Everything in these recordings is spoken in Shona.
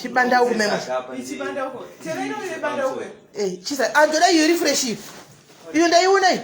chibanda uku mema chisa andoda iyo iri fresh iyo iyo ndaiona iyo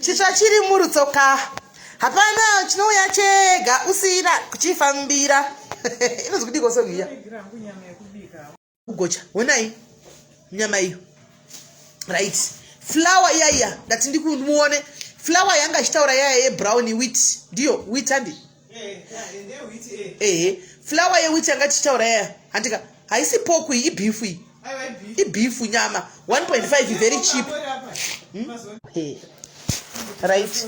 chitsva chiri murutsoka hapana chinouya chega usina kuchifambira inozi kudii kosongi iya kugocha honai nyama iyo right flower iya iya ndati ndikumuone flower yanga ichitaura yaya yebrown wit ndiyo wit andi ehe flawa yewit yanga tichitaura yaya handika haisi poku iyi ibifu iyi ibifu nyama 1.5 very cheap hmm? right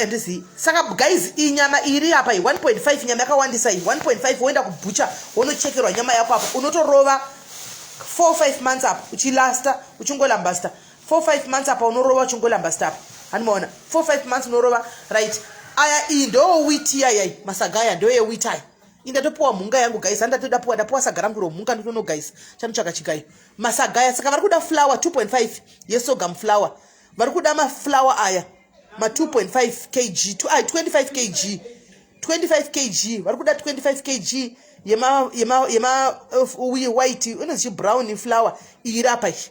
andizivi eh, saka guys iyi nyama iri apa iyi 1.5 nyama yakawandisa iyi 1.5 woenda kubhucha wonochekerwa nyama yako apa unotorova 45 months apa uchilasta uchingolambasta four five months apa unorova uchingolamba stap hanimaona four five months unorova right aya iyi ndoo witi yayai masaga aya ndoye witi aya indatopiwa mhunga yangu gaisa ndatoda piwa ndapiwa saga rangu romhunga ndotono gaisa chanotsvaka chigayo masaga aya saka vari kuda flower 2.5 yesogam flower vari kuda maflower aya ma 2.5 kg 25 kg 25 kg vari kuda 25 kg yema yema yema uh, white inozichi brown flower iyirapa iyi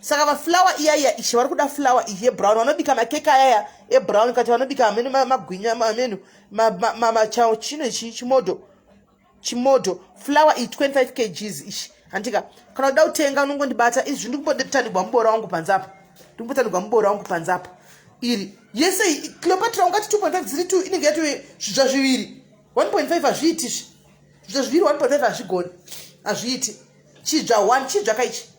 saka vaflower iya iya ishe vari kuda flower iyi yebrown vanobika makeke ayaya ebrown kati vanobika amene magwinya amene machao chino ichi chimodo chimodo flower iyi 25 kgs ishi handika kana uda kutenga unongondibata izvi ndikumbotandikwa muboora wangu panze apa ndikumbotandikwa muboora wangu panze apa iri yese iyi cleopatra ungati 2.5 dziri two inenge yatove zvidzva zviviri 1.5 hazviiti izvi zvidzva zviviri 1.5 hazvigoni hazviiti chidzva one chidzva kaichi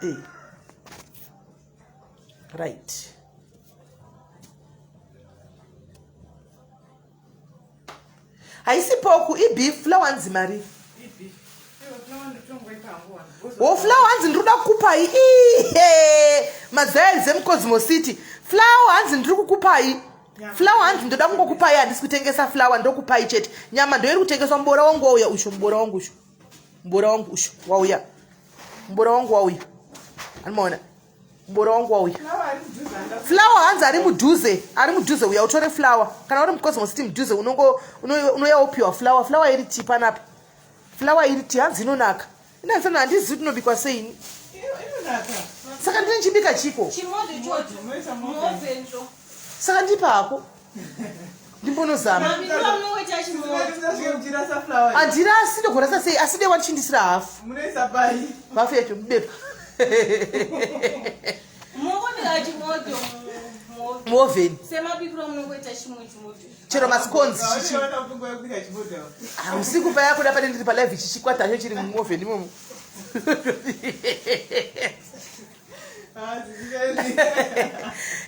hey. Eh. right haisi poku ibeef flower nzi mari wo flower hanzi ndiri kuda kukupai ihe mazaya zemcosmo city flower hanzi ndiri kukupai flower hanzi ndoda kungokupai handisi kutengesa flower ndokupai chete nyama ndoiri kutengeswa mubora wangu wauya usho mubora wangu usho mbora wangu ushu wauya mbora wangu wauya animaona mbora wangu wauya flawa hanzi ari mudhuze ari mudhuze uya utore flawa kana uri mucosmo city mudhuze unouya wopiwa flawa flawa iri ti panapa flawa iri ti hanzi inonaka inasana handizivi tinobikwa seini saka ndine chibika chiko saka ndipa hako ndimbonozama handira aside kurasa sei aside watichindisira hafu hafu yacho mubepa muoveni chero masikonzi usiku paya kuda pane ndiri palive chichikwata cho chiri muoveni imomo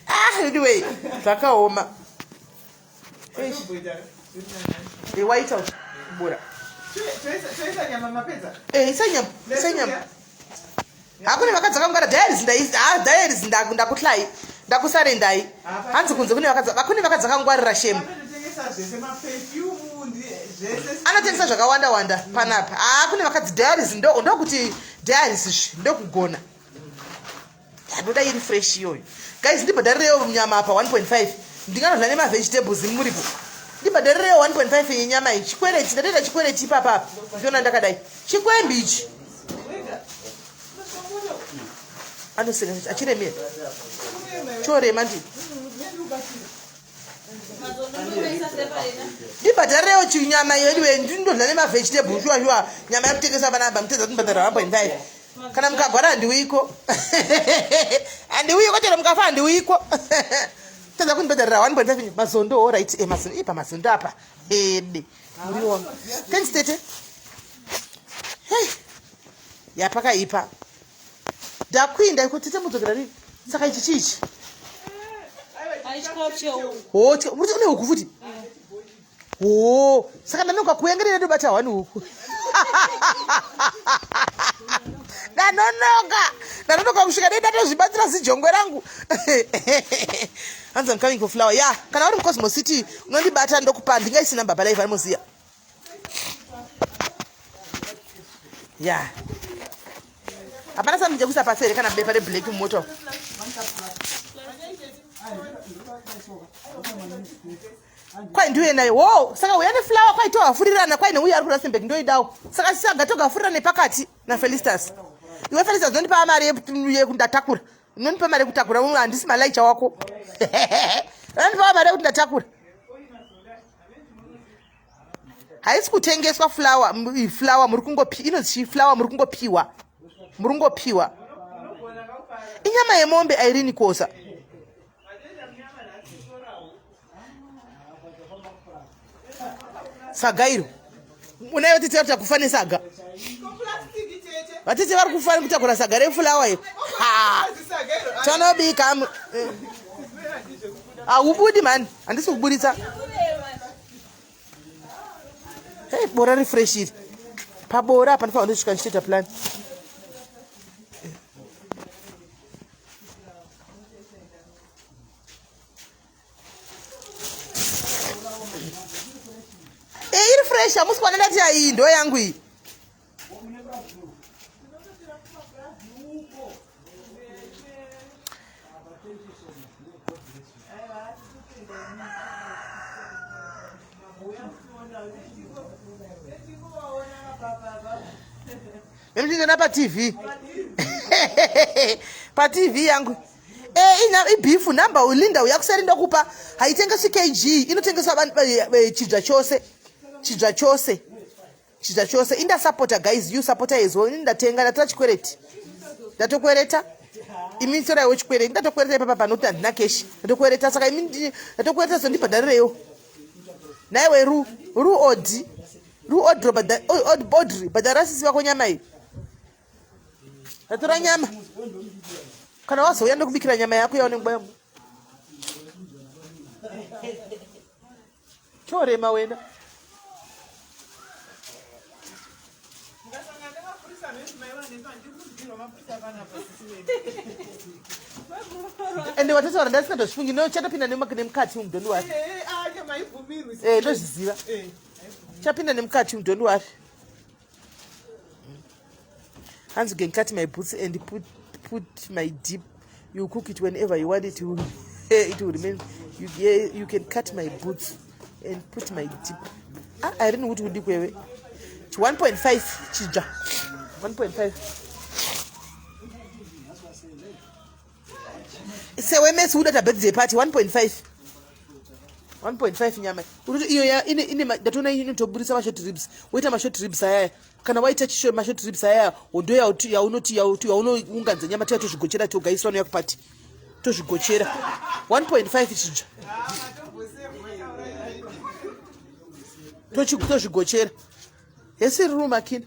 ah, anyway zvakaoma eh, waita bora eh, isanyama hakune vakadzi vakamugara diaries diaries ndakutlai ndakusarendai hanzi kunze kune vakadzi vakune vakadzi vakangwarira shemu anotengesa zvakawanda wanda panapa haa kune vakadzi diaries ndokuti diaries izvi ndokugona ndanoda iri fresh iyoyo guys ndibhadharirewo nyama apa 1.5 ndinganodla nemavegetables muripo ndibhadharirewo 1.5 yenyama iyi chikwereti ndatoita chikwereti ipapa apa ndiona ndakadai chikwembi ichi anoseka achiremera chorema ndii ndibhadharewo chinyama iyo idiwe ndinodla nemavegetables shuwa shuwa nyama yakutengesa panapa mutedza kundibhadhara one point five kana mukagwara handiuyiko handiuyiko chero mukafa handiuyiko tadza kundibhadharira one point five mazondo o right e eh, mazondo ipa mazondo apa ede muriona thanks tete hey yapakaipa Ndakuinda iko tete mudzokera rini? Saka ichi chichi. Aichikawo chewo. Oh, che, muri une huku futi? Oh, saka ndanoka kuyengerera ndobata wani huku. Ndanonoka. Ndanonoka kusvika dai ndatozvibatsira zijongwe rangu. Hanzi I'm coming for flower. Yeah, kana uri mu Cosmo City unondibata ndokupa ndingaisi number baba live vanoziya. ya hapana sambi jekuisa pasi here kana bepa reblack mumoto kwai ndiuye nayo wo saka uya neflower kwai tohafurirana kwai neuya ari kurasembek ndoidawo saka saga togafurira nepakati nafelistas iwe felisa zinondipa mari yekuti ndatakura unondipa mari yekutakura handisi malaicha wako unondipa mari yekuti ndatakura haisi kutengeswa flower flower muri kungopi inozii flower muri kungopiwa muri kungopiwa inyama yemombe airini kosa saga iro unayo vatete vari kutakufa nesaga vatete vari kufa nekutakura saga refulawa iro tanobika eh. Haubudi mani, handisi kuburitsa. Hey, bora refresh iri. Pabora apa ndifana ndosvika ndichitoita plan. Hey, eh, iri fresh, hamusi kuona ndati iyi ndo yangu iyi. Mimi pa TV. pa TV yangu. Eh, ina ibifu number ulinda uyakuseri ndokupa haitengeswi kg inotengeswa eh, eh, chidya chose chidya chose chita chose inda sapota guys you sapota as well ini ndatenga ndatora chikwereti ndatokwereta imi toraiwo chikwereti ndatokwereta ipapa panoti handina keshi ndatokwereta saka imi ndatokwereta zondibhadharirewo naiwe ru ru odi ru odro odri bhadhara sisi vako nyama iyi ndatora nyama kana wazouya ndokubikira nyama yako yaonenguva yamo Chorema wena. ende watotaura ndasingatofungi no chatopinda nemukati umu doni wari ndozviziva chapinda nemukati umu doni wari hanzi can cut my boots and put, put my deep you cook it whenever you want it you, it will remain you, yeah, you can cut my boots and put my deep ah, i don't know kuti udi kwewe chi 1.5 chija 1.5 sewemesi uda tabirthday party 1.5 1.5 nyama iyo ndatoona inotoburitsa mashort ribs woita mashort ribs ayaya kana waita chisho mashort ribs aya hondo yaunoti yaunounganidza nyama tiya tozvigochera toga isu vanouya kupati tozvigochera 1.5 chija tozvigochera hesi riri rumakina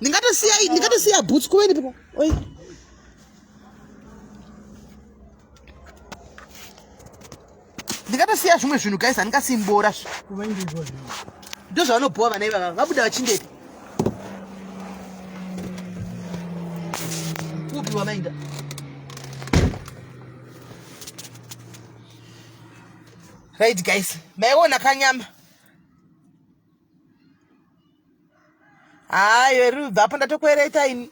ndingatosiya ndingatosiya boots kuweni piko oi ndingatosiya zvimwe zvinhu guys handingasimbora ndo zvavanobhowa vana ivava vabuda vachindepi kupi wamainda right guys maiona kanyama haa iwe rubva apo ndatokwereta ini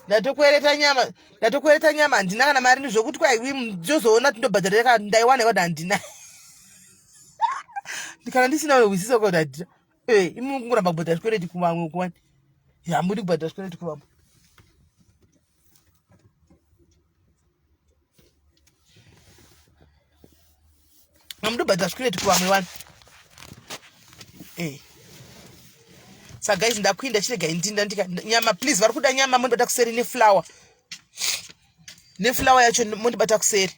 ndatokwereta nyama ndatokwereta nyama handina kana mari ndizvokuti kwaiwi ndozoona kuti ndobhadharira kana ndaiwana iwada handina kana ndisina wehwisisa kuti handina ee eh, imi kungoramba kubhadhara zvikwereti kuvamwe kuwani hambudi kubhadhara zvikwereti kuvamwe amudobhadhira zvikureti kuvamwe vanhu eh. sa guys ndakuinda chirega indinda ndika nyama please vari kuda nyama mondibata kuseri neflower neflower yacho mondibata kuseri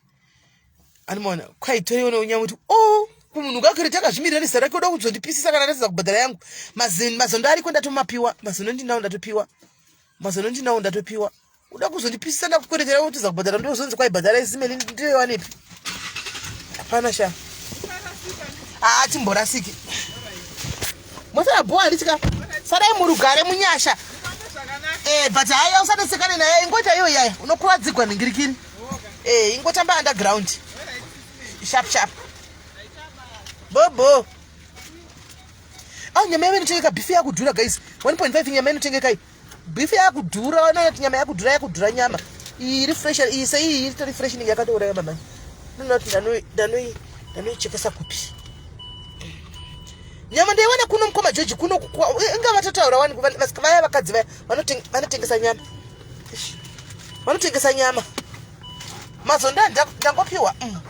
animoona kwaitoiona unyama kuti o oh, kumunhu kakuri takazvimirira nizera rake oda kuzondipisisa kana ndatiza kubhadhara yangu mazondo ariko ndatomapiwa mazondo ndinao ndatopiwa mazano ndinawo ndatopiwa uda kuzondipisisa ndakukwerekera wotiza kubhadhara ndozonzi kwaibhadhara isimeli ndirewanepi hapana sha haa ah, timborasiki mosara bhowa ndichika sadai murugare munyasha eh, but haya usanesekane naye ingoita iyo yaya unokuvadzigwa nhingirikini eh, ingotamba underground sharp sharp bobo Ah, nyama yavo inotengeka beef yakudhura guys 1.5 nyama inotengeka iyi beef yakudhura vanoona nyama yakudhura yakudhura nyama iyi iri fresh iyi sei iyi itori fresh inenge yakatouraya mama ndinoona kuti ndanoi ndanoichekesa kupi nyama ndaiwana kuno mukoma joji kuno inga vatotaura wani vaya vakadzi vaya vanotengesa nyama vanotengesa nyama mazonda ndangopiwa mm,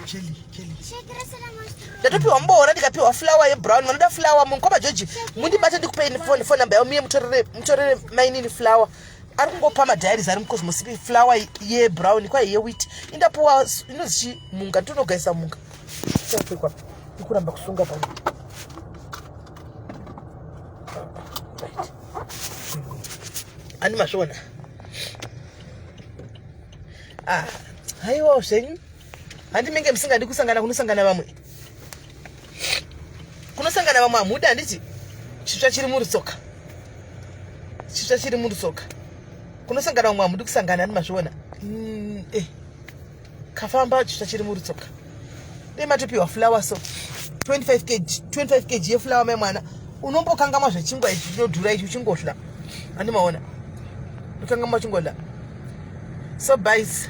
ndatopiwa mboora ndikapiwa flawa yebrown vanoda flawa mukoma georgi mundibate ndikupei foni foni namba yavo miye mutorere mainini flawa ari kungopa madiaries ari mucosmos flawa yebrown kwaye yewit indapuwa inozi chi munga nditonogaisa munga chapekwa ikuramba kusunga pano ani masvona ah haiwawo zvenyu handi menge musingadi kusangana kunosangana vamwe kunosangana vamwe hamudi handiti chitsva chiri murutsoka chitsva chiri murutsoka kunosangana vamwe hamudi kusangana ani mazviona mm, eh. kafamba chitsva chiri murutsoka dai matopiwa flower so 25 kg 25 kg yeflower mai mwana unombokangamwa zvechingwa ichi chinodhura ichi uchingodya andimaona ukangamwa uchingodya so bys